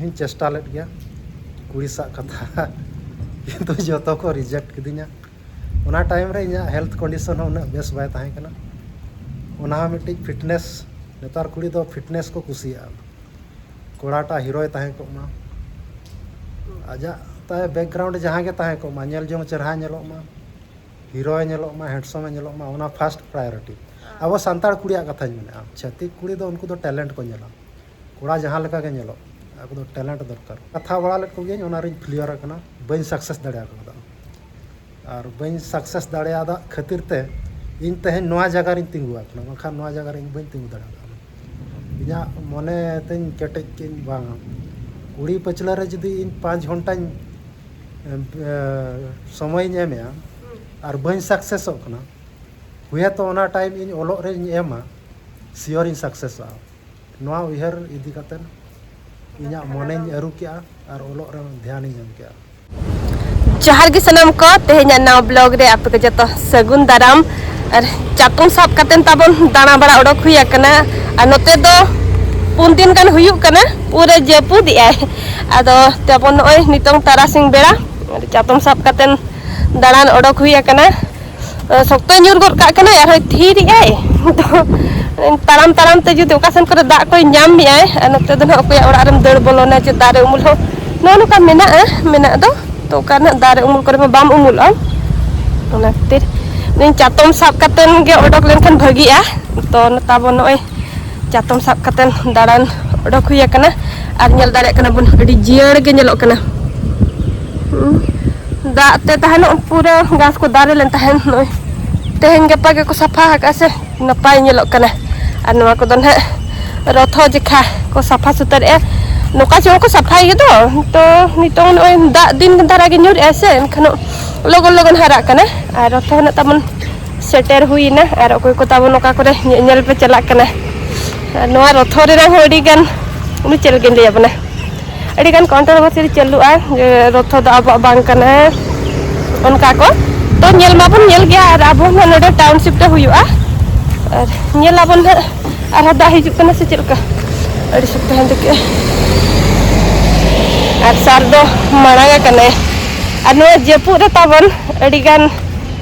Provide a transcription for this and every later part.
ᱤᱧ ᱪᱮᱥᱴᱟ ᱞᱮᱫ ᱜᱮᱭᱟ ᱠᱩᱲᱤ ᱥᱟᱜ ᱠᱟᱛᱷᱟ ᱠᱤᱱᱛᱩ ᱡᱚᱛᱚ ᱠᱚ ᱨᱤᱡᱮᱠᱴ ᱠᱤᱫᱤᱧᱟ ᱚᱱᱟ ᱴᱟᱭᱤᱢ ᱨᱮ ᱤᱧᱟᱹᱜ ᱦᱮᱞᱛᱷ ᱠᱚᱱᱰᱤᱥᱚᱱ ᱦᱚᱸ ᱩᱱᱟᱹᱜ ᱵᱮᱥ ᱵᱟᱭ ᱛᱟᱦᱮᱸ ᱠᱟᱱᱟ ᱚᱱᱟ ᱦᱚᱸ ᱢᱤᱫᱴᱤᱡ ᱯᱷᱤᱴᱱᱮᱥ ᱱᱮᱛᱟᱨ ᱠᱩᱲᱤ ᱫᱚ ᱯᱷᱤᱴᱱᱮᱥ ᱠᱚ ᱠᱩᱥᱤᱭᱟᱜᱼᱟ ᱠᱚᱲᱟᱴᱟᱜ ᱦᱤᱨᱳᱭ ᱛᱟᱦᱮᱸ ᱠᱚᱜ ᱢᱟ ᱟᱡᱟᱜ ᱛᱟᱭ ᱵᱮᱠᱜᱨᱟᱣᱩᱱᱰ ᱡᱟᱦᱟᱸ ᱜᱮ ᱛᱟᱦᱮᱸ ᱠᱚᱜ ᱢᱟ ᱧᱮᱞ ᱡᱚᱝ ᱪᱮᱨᱦᱟ ᱧᱮᱞᱚᱜ ᱢᱟ ᱦᱤᱨᱳᱭ ᱧᱮᱞᱚᱜ ᱢᱟ ᱦᱮᱸᱰᱥᱚᱢ ᱮ ᱧᱮᱞᱚᱜ ᱢᱟ ᱚᱱᱟ ᱯᱷᱟᱥᱴ ᱯᱨᱟᱭᱳᱨᱤᱴᱤ ᱟᱵᱚ ᱥᱟᱱᱛᱟᱲ ᱠᱩᱲᱤᱭᱟᱜ ᱠᱟᱛᱷᱟᱧ ᱢᱮᱱᱮᱫᱼᱟ ᱪᱷᱟᱹᱛᱤᱠ ᱠᱩᱲᱤ ᱫᱚ ᱩᱱᱠᱩ ᱫᱚ ᱴᱮᱞᱮᱱᱴ ᱠᱚ ᱧᱮᱞᱟ ᱠᱚᱲᱟ ᱡᱟᱦᱟᱸ ᱞᱮᱠᱟ ᱜᱮ ᱧᱮᱞᱚᱜ ᱟᱠᱚ ᱫᱚ ᱴᱮᱞᱮᱱᱴ ᱫᱚᱨᱠᱟᱨ ᱠᱟᱛᱷᱟ ᱵᱟᱲᱟ ᱞᱮᱫ ᱠᱚᱜᱮᱭᱟᱹᱧ ᱚᱱᱟ ᱨᱤᱧ ᱯᱷᱮᱞᱤᱭᱚᱨ ᱟᱠᱟᱱᱟ ᱵᱟᱹᱧ ᱥᱟᱠᱥᱮᱥ ᱫᱟᱲᱮ ᱟᱠᱟᱣᱫᱟ ᱟᱨ ᱵᱟᱹᱧ ᱥᱟᱠᱥᱮᱥ ᱫᱟᱲᱮᱭᱟᱫᱟ ᱠᱷᱟᱹᱛᱤᱨ ᱛᱮ ᱤᱧ ᱛᱮᱦᱮᱧ ᱱᱚᱣᱟ ᱡᱟᱭᱜᱟ ᱨᱤᱧ ᱛᱤᱸᱜᱩ ᱟᱠᱟᱱᱟ ᱵᱟᱝᱠᱷᱟᱱ ᱱᱚᱣᱟ ᱡᱟᱭᱜᱟ ᱨᱮ ᱤᱧ ᱵᱟᱹᱧ ᱛᱤᱸᱜᱩ ᱫᱟᱲᱮ ᱠᱟᱣᱫᱟ ᱤᱧᱟᱹᱜ ᱢᱚᱱᱮ ᱛᱤᱧ ᱠᱮᱴᱮᱡ ᱠᱮᱫᱟᱹᱧ ᱵᱟᱝᱟ ᱠᱩᱲᱤ ᱯᱟᱹᱪᱷᱞᱟᱹ ᱨᱮ ᱡᱩᱫᱤ ᱤᱧ ᱯᱟᱸᱪ ᱜᱷᱚᱱᱴᱟᱧ ᱥᱚᱢᱚᱭᱤᱧ ᱮᱢᱮᱜᱼᱟ ᱟᱨ ᱵᱟᱹᱧ ᱥᱟᱠᱥᱮᱥᱚᱜ ᱠᱟᱱᱟ ᱦᱩᱭᱮᱛᱚ ᱚᱱᱟ ᱴᱟᱭᱤᱢ ᱤᱧ ᱚᱞᱚᱜ ᱨᱤᱧ ᱮᱢᱟ ᱥᱤᱭᱳᱨᱤᱧ ᱥᱟᱠᱥᱮᱥᱚᱜᱼᱟ ᱱᱚᱣᱟ ᱩᱭᱦᱟᱹᱨ ᱤᱫᱤ ᱠᱟᱛᱮ ᱤᱧᱟᱹᱜ ᱢᱚᱱᱮᱧ ᱟᱹᱨᱩ ᱠᱮᱜᱼᱟ ᱟᱨ ᱚᱞᱚᱜ ᱨᱮ ᱫᱷᱮᱭᱟᱱᱤᱧ ᱮᱢ ᱠᱮᱜᱼᱟ ᱡᱚᱦᱟᱨ ᱜᱮ ᱥᱟᱱᱟᱢ ᱠᱚ ᱛᱮᱦᱮᱧᱟᱜ ᱱᱟᱣᱟ ᱵᱞᱚᱜ ᱨᱮ ᱟᱯᱮ ᱠᱚ ᱡᱚᱛᱚ ᱥᱟᱹᱜᱩᱱ ᱫᱟᱨᱟᱢ ᱟᱨ ᱪᱟᱛᱚᱢ ᱥᱟᱵ ᱠᱟᱛᱮ ᱛᱟᱵᱚᱱ ᱫᱟᱬᱟ ᱵᱟᱲᱟ ᱚᱰᱚᱠ ᱦᱩᱭ ᱟᱠᱟᱱᱟ ᱟᱨ ᱱᱚᱛᱮ ᱫᱚ ᱯᱩᱱ ᱫᱤᱱ ᱜᱟᱱ ᱦᱩᱭᱩᱜ ᱠᱟᱱᱟ ᱯᱩᱨᱟᱹ ᱡᱟᱹᱯᱩᱫ ᱮᱜᱼᱟᱭ ᱟᱫᱚ ᱛᱟᱵᱚᱱ ᱱᱚᱜᱼᱚᱭ ᱱᱤᱛᱚᱝ ᱛᱟᱨᱟᱥᱤᱧ ᱵᱮᱲᱟ ᱪᱟᱛᱚᱢ ᱥᱟᱵ ᱠᱟᱛᱮ ᱫᱟᱬᱟᱱ ᱚᱰᱚᱠ ᱦᱩᱭ ᱟᱠᱟᱱᱟ ᱥᱚᱠᱛᱚᱭ ᱧᱩᱨ ᱜᱚᱫ ᱠᱟᱜ ᱠᱟᱱᱟᱭ ᱟᱨᱦᱚᱸᱭ ᱛᱷᱤᱨᱮᱜᱼᱟᱭ ᱛᱚ ᱛᱟᱲᱟᱢ ᱛᱟᱲᱟᱢ ᱛᱮ ᱡᱩᱫᱤ ᱚᱠᱟ ᱥᱮᱱ ᱠᱚᱨᱮ ᱫᱟᱜ ᱠᱚᱭ ᱧᱟᱢ ᱢᱮᱭᱟᱭ ᱟᱨ ᱱᱚᱛᱮ ᱫᱚ ᱱᱟᱦᱟᱜ ᱚᱠᱚᱭᱟᱜ ᱚᱲᱟᱜ ᱨᱮᱢ ᱫᱟᱹᱲ ᱵᱚᱞᱚᱱᱟ ᱡᱮ ᱫᱟᱨᱮ ᱩᱢᱩᱞ ᱦᱚᱸ ᱱᱚᱜᱼᱚ ᱱᱚᱝᱠᱟ ᱢᱮᱱᱟᱜᱼᱟ ᱢᱮᱱᱟᱜ ᱫᱚ ᱛᱚ ᱚᱠᱟ ᱱᱟᱦᱟᱜ ᱫᱟᱨᱮ ᱩᱢᱩᱞ ᱠᱚᱨᱮ ᱢᱟ ᱵᱟᱢ ᱩᱢᱩᱞᱚᱜᱼᱟ ᱚᱱᱟ ᱠᱷᱟᱹᱛᱤᱨ ᱪᱟᱛᱚᱢ ᱥᱟᱵ ᱠᱟᱛᱮᱱ ᱜᱮ ᱚᱰᱚᱠ ᱞᱮᱱᱠᱷᱟᱱ ᱵᱷᱟᱹᱜᱤᱜᱼᱟ ᱛᱚ ᱛᱟᱵᱚᱱ ᱱᱚᱜᱼᱚᱭ ᱪᱟᱛᱚᱢ ᱥᱟᱵ ᱠᱟᱛᱮ ᱫᱟᱬᱟᱱ ᱚᱰᱚᱠ ᱦᱩᱭ ᱟᱠᱟᱱᱟ ᱟᱨ ᱧᱮᱞ ᱫᱟᱲᱮᱭᱟᱜ ᱠᱟᱱᱟ ᱵᱚᱱ ᱟᱹᱰᱤ ᱡᱤᱭᱟᱹᱲ ᱜᱮ ᱧᱮᱞᱚᱜ ᱠᱟᱱᱟ ᱫᱟᱜ ᱛᱮ ᱛᱟᱦᱮᱱᱚᱜ ᱯᱩᱨᱟᱹ ᱜᱷᱟᱥ ᱠᱚ ᱫᱟᱨᱮ ᱞᱮᱱ ᱛᱟᱦᱮᱱ ᱱᱚᱜᱼᱚᱭ ᱛᱮᱦᱮᱧ ᱜᱟᱯᱟ ᱜᱮᱠᱚ ᱥᱟᱯᱷᱟ ᱟᱠᱟᱫᱼᱟ ᱥᱮ ᱱᱟᱯᱟᱭ ᱧᱮᱞᱚᱜ ᱠᱟᱱᱟ ᱟᱨ ᱱᱚᱣᱟ ᱠᱚᱫᱚ ᱱᱟᱦᱟᱜ ᱨᱚᱛᱷᱚ ᱡᱮᱠᱷᱟ ᱠᱚ ᱥᱟᱯᱷᱟ ᱥᱩᱛᱟᱹᱨᱮᱜᱼᱟ ᱱᱚᱝᱠᱟ ᱪᱮ ᱦᱚᱸᱠᱚ ᱥᱟᱯᱷᱟᱭ ᱜᱮᱫᱚ ᱛᱚ ᱱᱤᱛᱚᱝ ᱱᱚᱜᱼᱚᱭ ᱫᱟᱜ ᱫᱤᱱ ᱫᱷᱟᱨᱟ ᱜᱮ ᱧᱩᱨᱮᱜᱼᱟ ᱥᱮ ᱮᱱᱠᱷᱟᱱ ᱞᱚᱜᱚᱱ ᱞᱚᱜᱚᱱ ᱦᱟᱨᱟᱜ ᱠᱟᱱᱟ ᱟᱨ ᱨᱚᱛᱷᱚ ᱦᱮᱱᱟᱜ ᱛᱟᱵᱚᱱ ᱥᱮᱴᱮᱨ ᱦᱩᱭᱱᱟ ᱟᱨ ᱚᱠᱚᱭ ᱠᱚ ᱛᱟᱵᱚᱱ ᱚᱠᱟ ᱠᱚᱨᱮ ᱧᱮᱧᱮᱞ ᱯᱮ ᱪᱟᱞᱟᱜ ᱠᱟᱱᱟ ᱟᱨ ᱱᱚᱣᱟ ᱨᱚᱛᱷᱚ ᱨᱮᱱᱟᱜ ᱦᱚᱸ ᱟᱹᱰᱤ ᱜᱟᱱ ᱩᱱᱤ ᱪᱮᱫ ᱞᱮᱠᱟᱧ ᱞᱟᱹᱭ ᱟᱵᱚᱱᱟ ᱟᱹᱰᱤ ᱜᱟᱱ ᱠᱚᱱᱴᱨᱚᱵᱷᱟᱨᱥᱤ ᱪᱟᱹᱞᱩᱜᱼᱟ ᱡᱮ ᱨᱚᱛᱷᱚ ᱫᱚ ᱟᱵᱚᱣᱟᱜ ᱵᱟᱝ ᱠᱟᱱᱟ ᱚᱱᱠᱟ ᱠᱚ ᱛᱚ ᱧᱮᱞ ᱢᱟᱵᱚᱱ ᱧᱮᱞ ᱜᱮᱭᱟ ᱟᱨ ᱟᱵᱚ ᱦᱚᱸ ᱱᱚᱰᱮ ᱴᱟᱣᱩᱱᱥᱤᱯ ᱨᱮ ᱦᱩᱭᱩᱜᱼᱟ ᱟᱨ ᱧᱮᱞ ᱟᱵᱚᱱ ᱦᱟᱸᱜ ᱟᱨᱦᱚᱸ ᱫᱟᱜ ᱦᱤᱡᱩᱜ ᱠᱟᱱᱟ ᱥᱮ ᱪᱮᱫ ᱞᱮᱠᱟ ᱟᱹᱰᱤ ᱥᱚᱠᱛᱚ ᱦᱟᱱᱛᱮ ᱠᱮᱜᱼᱟ ᱟᱨ ᱥᱟᱨ ᱫᱚ ᱢᱟᱲᱟᱝ ᱟᱠᱟᱱᱟᱭ ᱟᱨ ᱱᱚᱣᱟ ᱡᱟᱹᱯᱩᱫ ᱨᱮ ᱛᱟᱵᱚᱱ ᱟᱹᱰᱤ ᱜᱟᱱ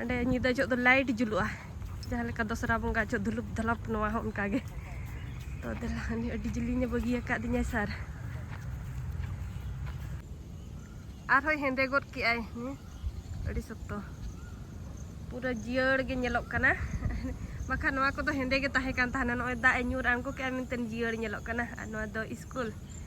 ᱚᱸᱰᱮ ᱧᱤᱫᱟᱹ ᱡᱚᱜ ᱫᱚ ᱞᱟᱭᱤᱴ ᱡᱩᱞᱩᱜᱼᱟ ᱡᱟᱦᱟᱸ ᱞᱮᱠᱟ ᱫᱚᱥᱨᱟ ᱵᱚᱸᱜᱟ ᱡᱚᱜ ᱫᱷᱩᱞᱩᱯ ᱫᱷᱟᱞᱟᱯ ᱱᱚᱣᱟ ᱦᱚᱸ ᱚᱱᱠᱟ ᱜᱮ ᱛᱚ ᱫᱮᱞᱟ ᱩᱱᱤ ᱟᱹᱰᱤ ᱡᱤᱞᱤᱧᱮ ᱵᱟᱹᱜᱤ ᱟᱠᱟᱫ ᱫᱤᱧᱟᱭ ᱥᱟᱨ ᱟᱨᱦᱚᱸ ᱦᱮᱸᱫᱮ ᱜᱚᱫ ᱠᱮᱜᱼᱟᱭ ᱟᱹᱰᱤ ᱥᱚᱠᱛᱚ ᱯᱩᱨᱟᱹ ᱡᱤᱭᱟᱹᱲ ᱜᱮ ᱧᱮᱞᱚᱜ ᱠᱟᱱᱟ ᱵᱟᱠᱷᱟᱱ ᱱᱚᱣᱟ ᱠᱚᱫᱚ ᱦᱮᱸᱫᱮ ᱜᱮ ᱛᱟᱦᱮᱸ ᱠᱟᱱ ᱛᱟᱦᱮᱱᱟ ᱱᱚᱜᱼᱚᱭ ᱫᱟᱜ ᱮ ᱧᱩᱨ ᱟᱬᱜᱚ ᱠᱮᱜᱼᱟ ᱢᱮᱱᱛᱮ ᱡᱤᱭᱟᱹᱲ ᱧᱮᱞᱚᱜ ᱠᱟᱱᱟ ᱟᱨ ᱱᱚᱣᱟ ᱫᱚ ᱤᱥᱠᱩᱞ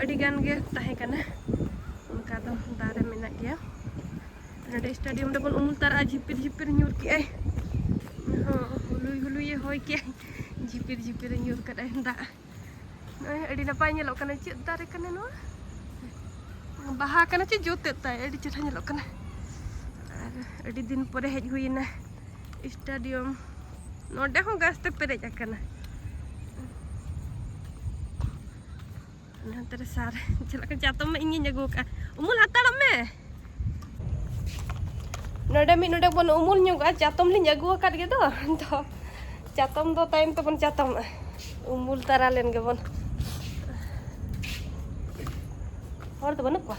ᱟᱹᱰᱤ ᱜᱟᱱ ᱜᱮ ᱛᱟᱦᱮᱸ ᱠᱟᱱᱟ ᱚᱱᱠᱟ ᱫᱚ ᱫᱟᱨᱮ ᱢᱮᱱᱟᱜ ᱜᱮᱭᱟ ᱱᱚᱰᱮ ᱥᱴᱮᱰᱤᱭᱟᱢ ᱨᱮᱵᱚᱱ ᱩᱢᱩᱞ ᱛᱟᱨᱟᱜᱼᱟ ᱡᱷᱤᱯᱤᱨ ᱡᱷᱤᱯᱤᱨ ᱧᱩᱨ ᱠᱮᱜᱼᱟᱭ ᱦᱚᱸ ᱦᱩᱞᱩᱭ ᱦᱩᱞᱩᱭᱮ ᱦᱚᱭ ᱠᱮᱜᱼᱟᱭ ᱡᱷᱤᱯᱤᱨ ᱡᱷᱤᱯᱤᱨᱮ ᱧᱩᱨ ᱠᱟᱫᱟᱭ ᱫᱟᱜ ᱱᱚᱜᱼᱚᱭ ᱟᱹᱰᱤ ᱱᱟᱯᱟᱭ ᱧᱮᱞᱚᱜ ᱠᱟᱱᱟ ᱪᱮᱫ ᱫᱟᱨᱮ ᱠᱟᱱᱟ ᱱᱚᱣᱟ ᱵᱟᱦᱟ ᱠᱟᱱᱟ ᱪᱮ ᱡᱚᱛᱮᱫ ᱛᱟᱭ ᱟᱹᱰᱤ ᱪᱮᱦᱨᱟ ᱧᱮᱞᱚᱜ ᱠᱟᱱᱟ ᱟᱨ ᱟᱹᱰᱤ ᱫᱤᱱ ᱯᱚᱨᱮ ᱦᱮᱡ ᱦᱩᱭᱮᱱᱟ ᱥᱴᱮᱰᱤᱭᱟᱢ ᱱᱚᱰᱮ ᱦᱚᱸ ᱜᱷᱟᱥ ᱛᱮ ᱯᱮᱨᱮᱡ ᱟᱠᱟᱱᱟ ᱦᱟᱱᱛᱮ ᱨᱮ ᱥᱟᱨ ᱪᱟᱞᱟᱜ ᱠᱟᱱᱟ ᱪᱟᱛᱚᱢ ᱢᱟ ᱤᱧᱜᱤᱧ ᱟᱹᱜᱩ ᱟᱠᱟᱫᱼᱟ ᱩᱢᱩᱞ ᱦᱟᱛᱟᱲᱚᱜ ᱢᱮ ᱱᱚᱰᱮ ᱢᱤᱫ ᱱᱚᱰᱮ ᱵᱚᱱ ᱩᱢᱩᱞ ᱧᱚᱜᱚᱜᱼᱟ ᱪᱟᱛᱚᱢ ᱞᱤᱧ ᱟᱹᱜᱩ ᱟᱠᱟᱫ ᱜᱮᱫᱚ ᱛᱚ ᱪᱟᱛᱚᱢ ᱫᱚ ᱛᱟᱭᱚᱢ ᱛᱮᱵᱚᱱ ᱪᱟᱛᱚᱢᱚᱜᱼᱟ ᱩᱢᱩᱞ ᱛᱟᱨᱟ ᱞᱮᱱ ᱜᱮᱵᱚᱱ ᱦᱚᱲ ᱫᱚ ᱵᱟᱹᱱᱩᱜ ᱠᱚᱣᱟ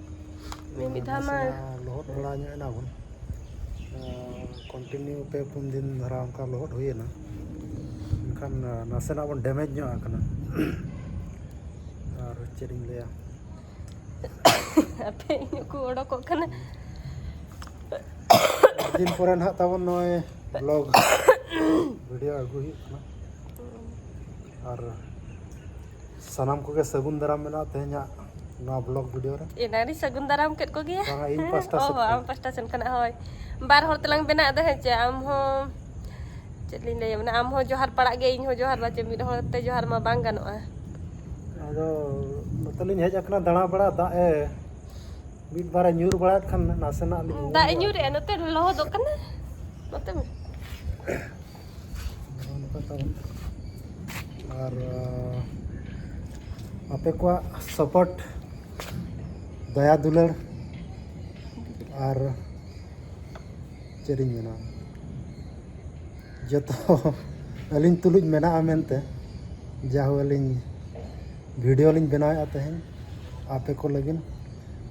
ᱢᱤᱫ ᱫᱷᱟᱣ ᱢᱟ ᱞᱚᱦᱚᱫ ᱵᱟᱲᱟ ᱧᱚᱜ ᱮᱱᱟ ᱵᱚᱱ ᱠᱚᱱᱴᱤᱱᱤᱭᱩ ᱯᱮ ᱯᱩᱱ ᱫᱤᱱ ᱫᱷᱟᱨᱟ ᱚᱱᱠᱟ ᱞᱚᱦᱚᱫ ᱦᱩᱭᱮᱱᱟ ᱮᱱᱠᱷᱟᱱ ᱱᱟᱥᱮᱱᱟᱜ ᱵᱚᱱ ᱰᱮᱢᱮᱡᱽ ᱧᱚᱜ ᱟᱠᱟᱱᱟ ᱟᱨ ᱪᱮᱫ ᱤᱧ ᱞᱟᱹᱭᱟ ᱟᱯᱮ ᱤᱧ ᱠᱚ ᱚᱰᱚᱠᱚᱜ ᱠᱟᱱᱟ ᱫᱤᱱ ᱯᱚᱨᱮ ᱱᱟᱦᱟᱜ ᱛᱟᱵᱚᱱ ᱱᱚᱜᱼᱚᱭ ᱵᱞᱚᱜ ᱵᱷᱤᱰᱤᱭᱳ ᱟᱹᱜᱩ ᱦᱩᱭᱩᱜ ᱠᱟᱱᱟ ᱟᱨ ᱥᱟᱱᱟᱢ ᱠᱚᱜᱮ ᱥᱟᱹᱜᱩᱱ ᱫᱟᱨᱟᱢ ᱢᱮᱱᱟᱜᱼᱟ ᱛᱮᱦᱮᱧᱟᱜ ᱱᱚᱣᱟ ᱵᱞᱚᱜ ᱵᱷᱤᱰᱤᱭᱳ ᱨᱮ ᱮᱱᱟᱨᱤ ᱥᱟᱹᱜᱩᱱ ᱫᱟᱨᱟᱢ ᱠᱮᱫ ᱠᱚᱜᱮᱭᱟ ᱵᱟᱝᱟ ᱤᱧ ᱯᱟᱥᱴᱟ ᱥᱮᱫ ᱠᱷᱚᱱ ᱟᱢ ᱯᱟᱥᱴᱟ ᱥᱮᱱ ᱠᱷᱚᱱᱟᱜ ᱦᱳᱭ ᱵᱟᱨ ᱦᱚᱲ ᱛᱮᱞᱟᱝ ᱵᱮᱱᱟᱣ ᱫᱚ ᱦᱮᱸ ᱪᱮ ᱟᱢ ᱦᱚᱸ ᱪᱮᱫ ᱞᱤᱧ ᱞᱟᱹᱭᱟ ᱢᱟᱱᱮ ᱟᱢ ᱦᱚᱸ ᱡᱚᱦᱟᱨ ᱯᱟᱲᱟᱜ ᱜᱮ ᱤᱧ ᱦᱚᱸ ᱡᱚᱦᱟᱨ ᱵᱟᱪᱮ ᱢᱤᱫ ᱦᱚᱲ ᱛᱮ ᱡᱚᱦᱟᱨ ᱢᱟ ᱵᱟᱝ ᱜᱟᱱᱚᱜᱼᱟ ᱟᱫᱚ ᱱᱚᱛᱮ ᱞᱤᱧ ᱦᱮᱡ ᱟᱠᱟᱱᱟ ᱫᱟᱬᱟ ᱵᱟᱲᱟ ᱫᱟᱜ ᱮ ᱢᱤᱫ ᱵᱟᱨᱮ ᱧᱩᱨ ᱵᱟᱲᱟᱭᱮᱫ ᱠᱷᱟᱱ ᱱᱟᱥᱮᱱᱟᱜ ᱞᱤᱧ ᱫᱟᱜ ᱧᱩᱨᱮᱜᱼᱟ ᱱᱚᱛᱮ ᱞᱚᱦᱚᱫᱚᱜ ᱠᱟᱱᱟ ᱱᱚᱛᱮ ᱟᱨ ᱟᱯᱮ ᱠᱚᱣᱟᱜ ᱥᱟᱯᱳᱨᱴ ᱫᱟᱭᱟ ᱫᱩᱞᱟᱹᱲ ᱟᱨ ᱪᱮᱫ ᱤᱧ ᱢᱮᱱᱟ ᱡᱚᱛᱚ ᱟᱹᱞᱤᱧ ᱛᱩᱞᱩᱡ ᱢᱮᱱᱟᱜᱼᱟ ᱢᱮᱱᱛᱮ ᱡᱟᱦᱳ ᱟᱹᱞᱤᱧ ᱵᱷᱤᱰᱤᱭᱳ ᱞᱤᱧ ᱵᱮᱱᱟᱣᱮᱫᱼᱟ ᱛᱮᱦᱮᱧ ᱟᱯᱮ ᱠᱚ ᱞᱟᱹᱜᱤᱫ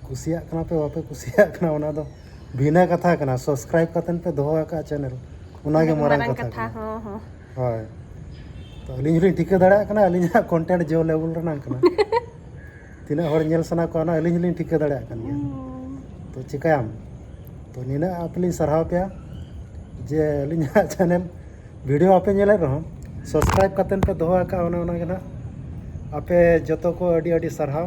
ᱠᱩᱥᱤᱭᱟᱜ ᱠᱟᱱᱟ ᱯᱮ ᱵᱟᱯᱮ ᱠᱩᱥᱤᱭᱟᱜ ᱠᱟᱱᱟ ᱚᱱᱟ ᱫᱚ ᱵᱷᱤᱱᱟᱹ ᱠᱟᱛᱷᱟ ᱠᱟᱱᱟ ᱥᱟᱵᱥᱠᱨᱟᱭᱤᱵ ᱠᱟᱛᱮ ᱯᱮ ᱫᱚᱦᱚ ᱟᱠᱟᱫ ᱪᱮᱱᱮᱞ ᱚᱱᱟ ᱜᱮ ᱢᱟᱨᱟᱝ ᱠᱟᱛᱷᱟ ᱠᱟᱱᱟ ᱦᱚᱸ ᱦᱚᱸ ᱦᱳᱭ ᱛᱚ ᱟᱹᱞᱤᱧ ᱦᱚᱸᱞᱤᱧ ᱴᱷᱤᱠᱟᱹ ᱫᱟᱲᱮᱭᱟᱜ ᱠᱟᱱᱟ ᱟᱹᱞᱤᱧᱟᱜ ᱠᱚᱱᱴᱮᱱᱴ ᱡᱮ ᱞᱮᱵᱮᱞ ᱨᱮᱱᱟᱜ ᱠᱟᱱᱟ ᱛᱤᱱᱟᱹᱜ ᱦᱚᱲ ᱧᱮᱞ ᱥᱟᱱᱟ ᱠᱚᱣᱟ ᱚᱱᱟ ᱟᱹᱞᱤᱧ ᱦᱚᱸᱞᱤᱧ ᱴᱷᱤᱠᱟᱹ ᱫᱟᱲᱮᱭᱟᱜ ᱠᱟᱱ ᱜᱮᱭᱟ ᱛᱚ ᱪᱤᱠᱟᱹᱭᱟᱢ ᱛᱚ ᱱᱤᱱᱟᱹᱜ ᱟᱯᱮ ᱞᱤᱧ ᱥᱟᱨᱦᱟᱣ ᱯᱮᱭᱟ ᱡᱮ ᱟᱹᱞᱤᱧᱟᱜ ᱪᱮᱱᱮᱞ ᱵᱷᱤᱰᱤᱭᱳ ᱟᱯᱮ ᱧᱮᱞᱮᱫ ᱨᱮᱦᱚᱸ ᱥᱟᱵᱥᱠᱨᱟᱭᱤᱵ ᱠᱟᱛᱮ ᱯᱮ ᱫᱚᱦᱚ ᱟᱠᱟᱫ ᱚᱱᱮ ᱚᱱᱟᱜᱮ ᱱᱟᱦᱟᱜ ᱟᱯᱮ ᱡᱚᱛᱚ ᱠᱚ ᱟᱹᱰᱤ ᱟᱹᱰᱤ ᱥᱟᱨᱦᱟᱣ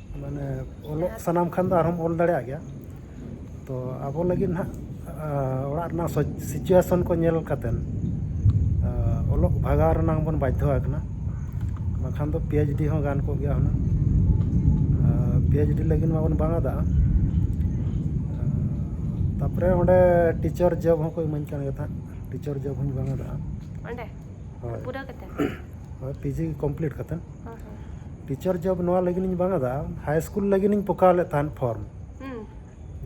ᱢᱟᱱᱮ ᱚᱞᱚᱜ ᱥᱟᱱᱟᱢ ᱠᱷᱟᱱ ᱫᱚ ᱟᱨᱦᱚᱢ ᱚᱞ ᱫᱟᱲᱮᱭᱟᱜ ᱜᱮᱭᱟ ᱛᱚ ᱟᱵᱚ ᱞᱟᱹᱜᱤᱫ ᱱᱟᱦᱟᱜ ᱚᱲᱟᱜ ᱨᱮᱱᱟᱜ ᱥᱤᱪᱩᱭᱮᱥᱚᱱ ᱠᱚ ᱧᱮᱞ ᱠᱟᱛᱮᱫ ᱚᱞᱚᱜ ᱵᱷᱟᱜᱟᱣ ᱨᱮᱱᱟᱜ ᱵᱚᱱ ᱵᱟᱫᱽᱫᱷᱚ ᱟᱠᱟᱱᱟ ᱵᱟᱠᱷᱟᱱ ᱫᱚ ᱯᱤ ᱮᱭᱤᱪ ᱰᱤ ᱦᱚᱸ ᱜᱟᱱ ᱠᱚᱜ ᱜᱮᱭᱟ ᱦᱩᱱᱟᱹᱝ ᱯᱤ ᱮᱭᱤᱪ ᱰᱤ ᱞᱟᱹᱜᱤᱫ ᱢᱟᱵᱚᱱ ᱵᱟᱝ ᱟᱫᱟ ᱛᱟᱨᱯᱚᱨᱮ ᱚᱸᱰᱮ ᱴᱤᱪᱟᱨ ᱡᱚᱵ ᱦᱚᱸᱠᱚ ᱤᱢᱟᱹᱧ ᱠᱟᱱ ᱜᱮ ᱛᱟᱦᱮᱸᱫ ᱴᱤᱪᱟᱨ ᱡᱚᱵ ᱦᱚᱸᱧ ᱵᱟᱝ ᱟᱫᱟ ᱚᱸᱰᱮ ᱯᱩᱨᱟᱹᱣ ᱠᱟᱛᱮᱫ ᱦᱳᱭ ᱯᱤᱡᱤ ᱠᱚᱢᱯᱞᱤᱴ ᱠᱟᱛᱮᱫ ᱴᱤᱪᱟᱨ ᱡᱚᱵ ᱱᱚᱣᱟ ᱞᱟᱹᱜᱤᱫ ᱤᱧ ᱵᱟᱝ ᱟᱫᱟ ᱦᱟᱭ ᱥᱠᱩᱞ ᱞᱟᱹᱜᱤᱫ ᱤᱧ ᱯᱚᱠᱟᱣ ᱞᱮᱫ ᱛᱟᱦᱮᱸᱫ ᱯᱷᱚᱨᱢ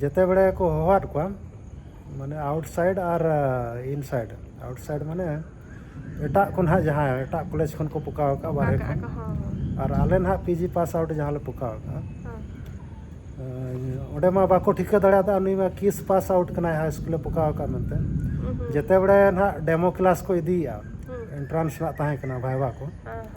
ᱡᱮᱛᱮ ᱵᱮᱲᱮ ᱠᱚ ᱦᱚᱦᱚᱣᱟᱫ ᱠᱚᱣᱟ ᱢᱟᱱᱮ ᱟᱣᱩᱴᱥᱟᱭᱤᱰ ᱟᱨ ᱤᱱᱥᱟᱭᱤᱰ ᱟᱣᱩᱴᱥᱟᱭᱤᱰ ᱢᱟᱱᱮ ᱮᱴᱟᱜ ᱠᱚ ᱱᱟᱦᱟᱜ ᱡᱟᱦᱟᱸ ᱮᱴᱟᱜ ᱠᱚᱞᱮᱡᱽ ᱠᱷᱚᱱ ᱠᱚ ᱯᱚᱠᱟᱣ ᱟᱠᱟᱫ ᱵᱟᱨᱦᱮ ᱠᱷᱚᱱ ᱟᱨ ᱟᱞᱮ ᱱᱟᱦᱟᱜ ᱯᱤᱡᱤ ᱯᱟᱥ ᱟᱣᱩᱴ ᱡᱟᱦᱟᱸ ᱞᱮ ᱯᱚᱠᱟᱣ ᱟᱠᱟᱫᱼᱟ ᱚᱸᱰᱮ ᱢᱟ ᱵᱟᱠᱚ ᱴᱷᱤᱠᱟᱹ ᱫᱟᱲᱮᱭᱟᱫᱟ ᱱᱩᱭ ᱢᱟ ᱠᱤᱥ ᱯᱟᱥ ᱟᱣᱩᱴ ᱠᱟᱱᱟᱭ ᱦᱟᱭ ᱥᱠᱩᱞᱮ ᱯᱚᱠᱟᱣ ᱟᱠᱟᱫ ᱢᱮᱱᱛᱮ ᱡᱮᱛᱮ ᱵᱮᱲᱮ ᱱᱟᱦᱟᱜ ᱰᱮᱢᱳ ᱠᱞᱟᱥ ᱠᱚ ᱤᱫᱤᱭᱮᱫᱼᱟ ᱮᱱᱴᱨᱟᱱᱥ ᱨᱮᱱᱟᱜ ᱛᱟᱦᱮᱸ ᱠᱟᱱᱟ ᱵᱷᱟᱭᱵᱟ ᱠᱚ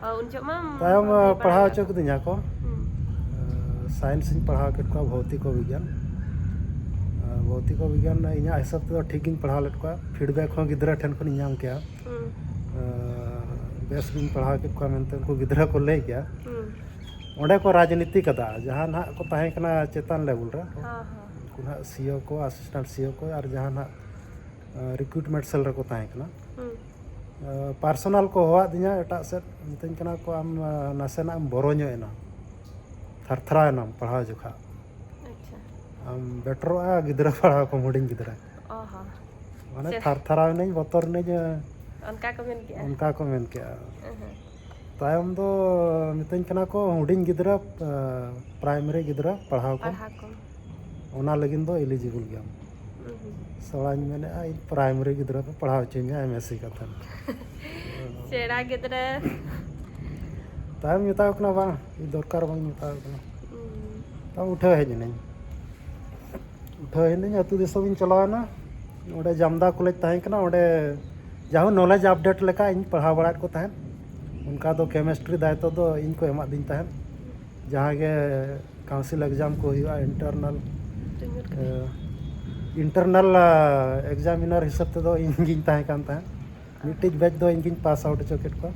ᱩᱱ ᱡᱚᱠᱷᱚᱱ ᱢᱟ ᱛᱟᱭᱚᱢ ᱯᱟᱲᱦᱟᱣ ᱦᱚᱪᱚ ᱠᱤᱫᱤᱧᱟ ᱠᱚ ᱥᱟᱭᱮᱱᱥ ᱤᱧ ᱯᱟᱲᱦᱟᱣ ᱠᱮᱫ ᱠᱚᱣᱟ ᱵᱷᱳᱣᱛᱤᱠᱚ ᱵᱤᱜᱽᱜᱟᱱ ᱵᱷᱳᱣᱛᱤᱠᱚ ᱵᱤᱜᱽᱜᱟᱱ ᱤᱧᱟᱹᱜ ᱦᱤᱥᱟᱹᱵ ᱛᱮᱫᱚ ᱴᱷᱤᱠ ᱜᱤᱧ ᱯᱟᱲᱦᱟᱣ ᱞᱮᱫ ᱠᱚᱣᱟ ᱯᱷᱤᱰᱵᱮᱠ ᱦᱚᱸ ᱜᱤᱫᱽᱨᱟᱹ ᱴᱷᱮᱱ ᱠᱷᱚᱱᱤᱧ ᱧᱟᱢ ᱠᱮᱜᱼᱟ ᱵᱮᱥ ᱜᱤᱧ ᱯᱟᱲᱦᱟᱣ ᱠᱮᱫ ᱠᱚᱣᱟ ᱢᱮᱱᱛᱮ ᱩᱱᱠᱩ ᱜᱤᱫᱽᱨᱟᱹ ᱠᱚ ᱞᱟᱹᱭ ᱠᱮᱜᱼᱟ ᱚᱸᱰᱮ ᱠᱚ ᱨᱟᱡᱽᱱᱤᱛᱤ ᱠᱟᱫᱟ ᱡᱟᱦᱟᱸ ᱱᱟᱦᱟᱜ ᱠᱚ ᱛᱟᱦᱮᱸ ᱠᱟᱱᱟ ᱪᱮᱛᱟᱱ ᱞᱮᱵᱮᱞ ᱨᱮ ᱩᱱᱠᱩ ᱱᱟᱦᱟᱜ ᱥᱤᱭᱳ ᱠᱚ ᱟᱥᱤᱥᱴᱮᱱᱴ ᱥᱤᱭᱳ ᱠᱚ ᱟᱨ ᱡᱟᱦᱟᱸ ᱱᱟᱦᱟᱜ ᱨᱤᱠᱨᱩᱴᱢᱮᱱᱴ ᱥᱮᱞ ᱨᱮᱠᱚ ᱛᱟᱦᱮᱸ ᱠᱟᱱᱟ ᱯᱟᱨᱥᱚᱱᱟᱞ ᱠᱚ ᱦᱚᱦᱚᱣᱟᱫᱤᱧᱟ ᱮᱴᱟᱜ ᱥᱮᱫ ᱢᱤᱛᱟᱹᱧ ᱠᱟᱱᱟ ᱠᱚ ᱟᱢ ᱱᱟᱥᱮᱱᱟᱜ ᱮᱢ ᱵᱚᱨᱚ ᱧᱚᱜ ᱮᱱᱟ ᱛᱷᱟᱨ ᱛᱷᱟᱨᱟᱣ ᱮᱱᱟᱢ ᱯᱟᱲᱦᱟᱣ ᱡᱚᱠᱷᱟᱜ ᱟᱪᱪᱷᱟ ᱟᱢ ᱵᱮᱴᱚᱨᱚᱜᱼᱟ ᱜᱤᱫᱽᱨᱟᱹ ᱯᱟᱲᱦᱟᱣ ᱠᱚᱢ ᱦᱩᱰᱤᱧ ᱜᱤᱫᱽᱨᱟᱹ ᱚ ᱦᱚᱸ ᱢᱟᱱᱮ ᱪᱮᱫ ᱛᱷᱟᱨ ᱛᱷᱟᱨᱟᱣ ᱮᱱᱟᱹᱧ ᱵᱚᱛᱚᱨ ᱮᱱᱟᱹᱧ ᱚᱱᱠᱟ ᱠᱚ ᱢᱮᱱ ᱠᱮᱜᱼᱟ ᱚᱱᱠᱟ ᱠᱚ ᱢᱮᱱ ᱠᱮᱜᱼᱟ ᱦᱮᱸ ᱛᱟᱭᱚᱢ ᱫᱚ ᱢᱤᱛᱟᱹᱧ ᱠᱟᱱᱟ ᱠᱚ ᱦᱩᱰᱤᱧ ᱜᱤᱫᱽᱨᱟᱹ ᱯᱨᱟᱭᱢᱟᱨᱤ ᱜᱤᱫᱽᱨᱟᱹ ᱯᱟᱲᱦᱟᱣ ᱠᱚᱢ ᱯᱟᱲᱦᱟᱣ ᱠᱚᱢ ᱚᱱᱟ ᱞᱟᱹᱜᱤᱫ ᱫᱚ ᱮᱞᱤᱡᱤᱵᱚᱞ ᱜᱮᱭᱟᱢ ᱥᱮᱬᱟᱧ ᱢᱮᱱᱮᱫᱼᱟ ᱤᱧ ᱯᱨᱟᱭᱢᱟᱨᱤ ᱜᱤᱫᱽᱨᱟᱹ ᱠᱚ ᱯᱟᱲᱦᱟᱣ ᱦᱚᱪᱚᱧᱟ ᱮᱢ ᱮᱥ ᱥᱤ ᱠᱟᱛᱮ ᱥᱮᱬᱟ ᱜᱤᱫᱽᱨᱟᱹ ᱛᱟᱭᱚᱢ ᱢᱮᱛᱟᱣ ᱠᱟᱱᱟ ᱵᱟᱝ ᱫᱚᱨᱠᱟᱨ ᱵᱟᱹᱧ ᱢᱮᱛᱟᱣ ᱠᱟᱱᱟ ᱛᱟᱣ ᱩᱴᱷᱟᱹᱣ ᱦᱮᱡ ᱮᱱᱟᱹᱧ ᱩᱴᱷᱟᱹᱣ ᱮᱱᱟᱹᱧ ᱟᱹᱛᱩ ᱫᱤᱥᱚᱢ ᱤᱧ ᱪᱟᱞᱟᱣᱮᱱᱟ ᱚᱸᱰᱮ ᱡᱟᱢᱫᱟ ᱠᱚᱞᱮᱡᱽ ᱛᱟᱦᱮᱸ ᱠᱟᱱᱟ ᱚᱸᱰᱮ ᱡᱟᱦᱳ ᱱᱚᱞᱮᱡᱽ ᱟᱯᱰᱮᱴ ᱞᱮᱠᱟ ᱤᱧ ᱯᱟᱲᱦᱟᱣ ᱵᱟᱲᱟᱭᱮᱫ ᱠᱚ ᱛᱟᱦᱮᱸᱫ ᱚᱱᱠᱟ ᱫᱚ ᱠᱮᱢᱮᱥᱴᱨᱤ ᱫᱟᱭᱤᱛᱛᱚ ᱫᱚ ᱤᱧ ᱠᱚ ᱮᱢᱟᱫᱤᱧ ᱛᱟᱦᱮᱸᱫ ᱡᱟᱦᱟᱸ ᱜᱮ ᱠᱟᱣᱩᱱᱥᱤᱞ ᱮᱠᱡᱟᱢ ᱠᱚ ᱦᱩᱭᱩᱜᱼᱟ ᱤᱱᱴᱟᱨᱱᱟᱞ ᱤᱱᱴᱟᱨᱱᱟᱞ ᱮᱠᱡᱟᱢᱤᱱᱟᱨ ᱦᱤᱥᱟᱹᱵ ᱛᱮᱫᱚ ᱤᱧ ᱜᱤᱧ ᱛᱟᱦᱮᱸ ᱠᱟᱱ ᱛᱟᱦᱮᱸᱫ ᱢᱤᱫᱴᱤᱡ ᱵᱮᱪ ᱫᱚ ᱤᱧ ᱜᱤᱧ ᱯᱟᱥ ᱟᱣᱩᱴ ᱦᱚᱪᱚ ᱠᱮᱫ ᱠᱚᱣᱟ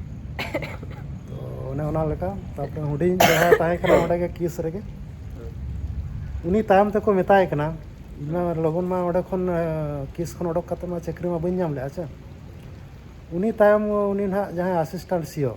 ᱛᱚ ᱚᱱᱮ ᱚᱱᱟ ᱞᱮᱠᱟ ᱛᱟᱨᱯᱚᱨᱮ ᱦᱩᱰᱤᱧ ᱡᱟᱦᱟᱸ ᱛᱟᱦᱮᱸ ᱠᱟᱱᱟ ᱚᱸᱰᱮ ᱜᱮ ᱠᱤᱥ ᱨᱮᱜᱮ ᱩᱱᱤ ᱛᱟᱭᱚᱢ ᱛᱮᱠᱚ ᱢᱮᱛᱟᱭ ᱠᱟᱱᱟ ᱤᱧ ᱢᱟ ᱞᱚᱜᱚᱱ ᱢᱟ ᱚᱸᱰᱮ ᱠᱷᱚᱱ ᱠᱤᱥ ᱠᱷᱚᱱ ᱚᱰᱚᱠ ᱠᱟᱛᱮ ᱢᱟ ᱪᱟᱹᱠᱨᱤ ᱢᱟ ᱵᱟᱹᱧ ᱧᱟᱢ ᱞᱮᱫᱼᱟ ᱥᱮ ᱩᱱᱤ ᱛᱟᱭᱚᱢ ᱩᱱᱤ ᱱᱟᱦᱟᱜ ᱡᱟᱦᱟᱸᱭ ᱟᱥᱤᱥᱴᱮᱱᱴ ᱥᱤ ᱳ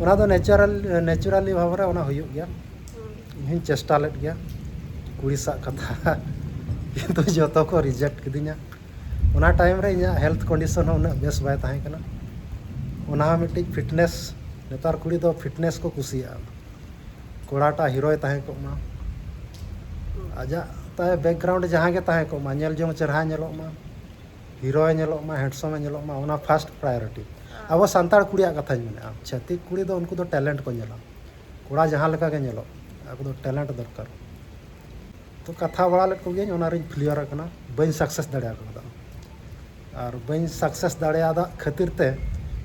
ᱚᱱᱟ ᱫᱚ ᱱᱮᱪᱟᱨᱟᱞ ᱱᱮᱪᱟᱨᱟᱞᱤ ᱵᱷᱟᱵᱽ ᱨᱮ ᱚᱱᱟ ᱦᱩᱭᱩᱜ ᱜᱮᱭᱟ ᱤᱧ ᱦᱚᱧ ᱪᱮᱥᱴᱟ ᱞᱮᱫ ᱜᱮᱭᱟ ᱠᱩᱲᱤ ᱥᱟᱜ ᱠᱟᱛᱷᱟ ᱠᱤᱱᱛᱩ ᱡᱚᱛᱚ ᱠᱚ ᱨᱤᱡᱮᱠᱴ ᱠᱤᱫᱤᱧᱟ ᱚᱱᱟ ᱴᱟᱭᱤᱢ ᱨᱮ ᱤᱧᱟᱹᱜ ᱦᱮᱞᱛᱷ ᱠᱚᱱᱰᱤᱥᱚᱱ ᱦᱚᱸ ᱩᱱᱟᱹᱜ ᱵᱮᱥ ᱵᱟᱭ ᱛᱟᱦᱮᱸ ᱠᱟᱱᱟ ᱚᱱᱟ ᱦᱚᱸ ᱢᱤᱫᱴᱤᱡ ᱯᱷᱤᱴᱱᱮᱥ ᱱᱮᱛᱟᱨ ᱠᱩᱲᱤ ᱫᱚ ᱯᱷᱤᱴᱱᱮᱥ ᱠᱚ ᱠᱩᱥᱤᱭᱟᱜᱼᱟ ᱠᱚᱲᱟᱴᱟ ᱦᱤᱨᱳᱭ ᱛᱟᱦᱮᱸ ᱠᱚᱜ ᱢᱟ ᱟᱡᱟᱜ ᱛᱟᱭ ᱵᱮᱠᱜᱨᱟᱣᱩᱱᱰ ᱡᱟᱦᱟᱸ ᱜᱮ ᱛᱟᱦᱮᱸ ᱠᱚᱜ ᱢᱟ ᱧᱮᱞ ᱡᱚᱝ ᱪᱮᱨᱦᱟ ᱧᱮᱞᱚᱜ ᱢᱟ ᱦᱤᱨᱳ ᱮ ᱧᱮᱞᱚᱜ ᱢᱟ ᱦᱮᱸᱰᱥᱚᱢ ᱮ ᱧᱮᱞᱚᱜ ᱢᱟ ᱚᱱᱟ ᱯᱷᱟᱥᱴ ᱯᱨᱟᱭᱚᱨᱤᱴᱤ ᱟᱵᱚ ᱥᱟᱱᱛᱟᱲ ᱠᱩᱲᱤᱭᱟᱜ ᱠᱟᱛᱷᱟᱧ ᱢᱮᱱᱮᱫᱼᱟ ᱪᱷᱟᱹᱛᱤᱠ ᱠᱩᱲᱤ ᱫᱚ ᱩᱱᱠᱩ ᱫᱚ ᱴᱮᱞᱮᱱᱴ ᱠᱚ ᱧᱮᱞᱟ ᱠᱚᱲᱟ ᱡᱟᱦᱟᱸ ᱞᱮᱠᱟ ᱜᱮ ᱧᱮᱞᱚᱜ ᱟᱠᱚ ᱫᱚ ᱴᱮᱞᱮᱱᱴ ᱫᱚᱨᱠᱟᱨ ᱛᱚ ᱠᱟᱛᱷᱟ ᱵᱟᱲᱟ ᱞᱮᱫ ᱠᱚᱜᱮᱭᱟᱹᱧ ᱚᱱᱟ ᱨᱤᱧ ᱯᱷᱞᱤᱭᱟᱨ ᱟᱠᱟᱱᱟ ᱵᱟᱹᱧ ᱥᱟᱠᱥᱮᱥ ᱫᱟᱲᱮ ᱟᱠᱟᱫᱟ ᱟᱨ ᱵᱟᱹᱧ ᱥᱟᱠᱥᱮᱥ ᱫᱟᱲᱮᱭᱟᱫᱟ ᱠᱷᱟᱹᱛᱤᱨ ᱛᱮ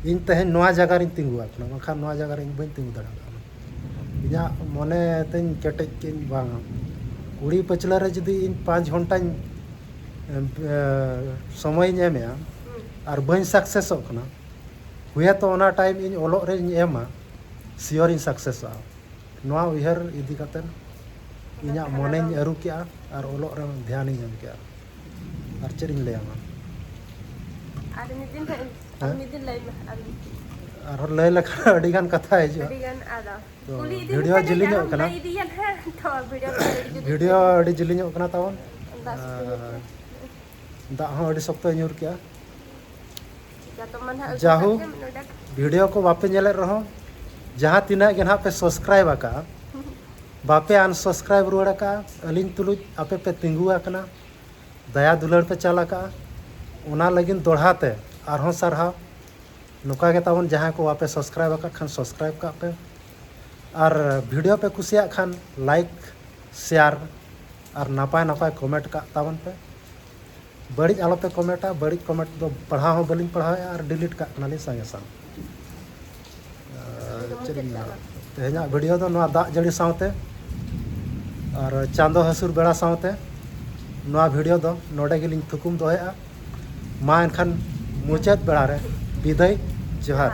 ᱤᱧ ᱛᱮᱦᱮᱧ ᱱᱚᱣᱟ ᱡᱟᱭᱜᱟ ᱨᱤᱧ ᱛᱤᱸᱜᱩ ᱟᱠᱟᱱᱟ ᱵᱟᱝᱠᱷᱟᱱ ᱱᱚᱣᱟ ᱡᱟᱭᱜᱟ ᱨᱮ ᱤᱧ ᱵᱟᱹᱧ ᱛᱤᱸᱜᱩ ᱫᱟᱲᱮ ᱠᱟᱣᱫᱟ ᱤᱧᱟᱹᱜ ᱢᱚᱱᱮ ᱛᱤᱧ ᱠᱮᱴᱮᱡ ᱠᱮᱫᱟᱹᱧ ᱵᱟᱝᱟ ᱠᱩᱲᱤ ᱯᱟᱹᱪᱷᱞᱟᱹ ᱨᱮ ᱡᱩᱫᱤ ᱤᱧ ᱯᱟᱸᱪ ᱜᱷᱚᱱᱴᱟᱧ ᱥᱚᱢᱚᱭᱤᱧ ᱮᱢᱮᱜᱼᱟ ᱟᱨ ᱵᱟᱹᱧ ᱥᱟᱠᱥᱮᱥᱚᱜ ᱠᱟᱱᱟ ᱦᱩᱭᱟᱛᱚ ᱚᱱᱟ ᱴᱟᱭᱤᱢ ᱤᱧ ᱚᱞᱚᱜ ᱨᱮᱧ ᱮᱢᱟ ᱥᱤᱭᱳᱨᱤᱧ ᱥᱟᱠᱥᱮᱥᱚᱜᱼᱟ ᱱᱚᱣᱟ ᱩᱭᱦᱟᱹᱨ ᱤᱫᱤ ᱠᱟᱛᱮ ᱤᱧᱟᱹᱜ ᱢᱚᱱᱮᱧ ᱟᱹᱨᱩ ᱠᱮᱜᱼᱟ ᱟᱨ ᱚᱞᱚᱜ ᱨᱮ ᱫᱷᱮᱭᱟᱱᱤᱧ ᱮᱢ ᱠᱮᱜᱼᱟ ᱟᱨ ᱪᱮᱫ ᱤᱧ ᱞᱟᱹᱭᱟᱢᱟ ᱟᱨ ᱢᱤᱫ ᱫᱤᱱ ᱢᱤᱫ ᱫᱤᱱ ᱞᱟᱹᱭ ᱢᱮ ᱟᱨᱦᱚᱸ ᱞᱟᱹᱭ ᱞᱮᱠᱷᱟᱱ ᱟᱹᱰᱤᱜᱟᱱ ᱠᱟᱛᱷᱟ ᱦᱤᱡᱩᱜᱼᱟ ᱟᱹᱰᱤᱜᱟᱱ ᱟᱫᱚ ᱛᱚ ᱵᱷᱤᱰᱤᱭᱳ ᱡᱤᱞᱤᱧᱚᱜ ᱠᱟᱱᱟ ᱵᱷᱤᱰᱤᱭᱳ ᱟᱹᱰᱤ ᱡᱤᱞᱤᱧᱚᱜ ᱠᱟᱱᱟ ᱛᱟᱵᱚᱱ ᱫᱟᱜ ᱦᱚᱸ ᱟᱹᱰᱤ ᱥᱚᱠᱛᱚᱭ ᱧᱩᱨ ᱠᱮᱜᱼᱟ ᱡᱟᱦᱳ ᱵᱷᱤᱰᱤᱭᱳ ᱠᱚ ᱵᱟᱯᱮ ᱧᱮᱞᱮᱫ ᱨᱮᱦᱚᱸ ᱡᱟᱦᱟᱸ ᱛᱤᱱᱟᱹᱜ ᱜᱮ ᱱᱟᱦᱟᱜ ᱯᱮ ᱥᱟᱵᱥᱠᱨᱟᱭᱤᱵ ᱟᱠᱟᱜᱼᱟ ᱵᱟᱯᱮ ᱟᱱᱥᱟᱵᱥᱠᱨᱟᱭᱤᱵ ᱨᱩᱣᱟᱹᱲ ᱟᱠᱟᱜᱼᱟ ᱟᱹᱞᱤᱧ ᱛᱩᱞᱩᱡ ᱟᱯᱮ ᱯᱮ ᱛᱤᱸᱜᱩ ᱟᱠᱟᱱᱟ ᱫᱟᱭᱟ ᱫᱩᱞᱟᱹᱲ ᱯᱮ ᱪᱟᱞ ᱟᱠᱟᱜᱼᱟ ᱚᱱᱟ ᱞᱟᱹᱜᱤᱫ ᱫᱚᱲᱦᱟ ᱛᱮ ᱟᱨᱦᱚᱸ ᱥᱟᱨᱦᱟᱣ ᱱᱚᱝᱠᱟ ᱜᱮ ᱛᱟᱵᱚᱱ ᱡᱟᱦᱟᱸᱭ ᱠᱚ ᱵᱟᱯᱮ ᱥᱟᱵᱥᱠᱨᱟᱭᱤᱵ ᱟᱠᱟᱫ ᱠᱷᱟᱱ ᱥᱟᱵᱥᱠᱨᱟᱭᱤᱵ ᱠᱟᱜ ᱯᱮ ᱟᱨ ᱵᱷᱤᱰᱤᱭᱳ ᱯᱮ ᱠᱩᱥᱤᱭᱟᱜ ᱠᱷᱟᱱ ᱞᱟᱭᱤᱠ ᱥᱮᱭᱟᱨ ᱟᱨ ᱱᱟᱯᱟᱭ ᱱᱟᱯᱟᱭ ᱠᱚᱢᱮᱱᱴ ᱠᱟᱜ ᱛᱟᱵᱚᱱ ᱯᱮ ᱵᱟᱹᱲᱤᱡ ᱟᱞᱚ ᱯᱮ ᱠᱚᱢᱮᱱᱴᱟ ᱵᱟᱹᱲᱤᱡ ᱠᱚᱢᱮᱱᱴ ᱫᱚ ᱯᱟᱲᱦᱟᱣ ᱦᱚᱸ ᱵᱟᱹᱞᱤᱧ ᱯᱟᱲᱦᱟᱣᱮᱫᱼᱟ ᱟᱨ ᱰᱤᱞᱤᱴ ᱠᱟᱜ ᱠᱟᱱᱟᱞᱤᱧ ᱥᱟᱸᱜᱮ ᱥᱟᱝ ᱪᱮᱫ ᱤᱧ ᱢᱮᱱᱟ ᱛᱮᱦᱮᱧᱟᱜ ᱵᱷᱤᱰᱤᱭᱳ ᱫᱚ ᱱᱚᱣᱟ ᱫᱟᱜ ᱡᱟᱹᱲᱤ ᱥᱟᱶᱛᱮ ᱟᱨ ᱪᱟᱸᱫᱚ ᱦᱟᱹᱥᱩᱨ ᱵᱮᱲᱟ ᱥᱟᱶᱛᱮ ᱱᱚᱣᱟ ᱵᱷᱤᱰᱤᱭᱳ ᱫᱚ ᱱᱚᱰᱮ ᱜᱮᱞᱤᱧ ᱛᱷᱩᱠᱩᱢ ᱫᱚᱦᱚᱭᱮᱫᱼᱟ ᱢᱟ ᱮᱱᱠᱷᱟᱱ ᱢᱩᱪᱟᱹᱫ ᱵᱮᱲᱟ ᱨᱮ ᱵᱤᱫᱟᱹᱭ ᱡᱚᱦᱟᱨ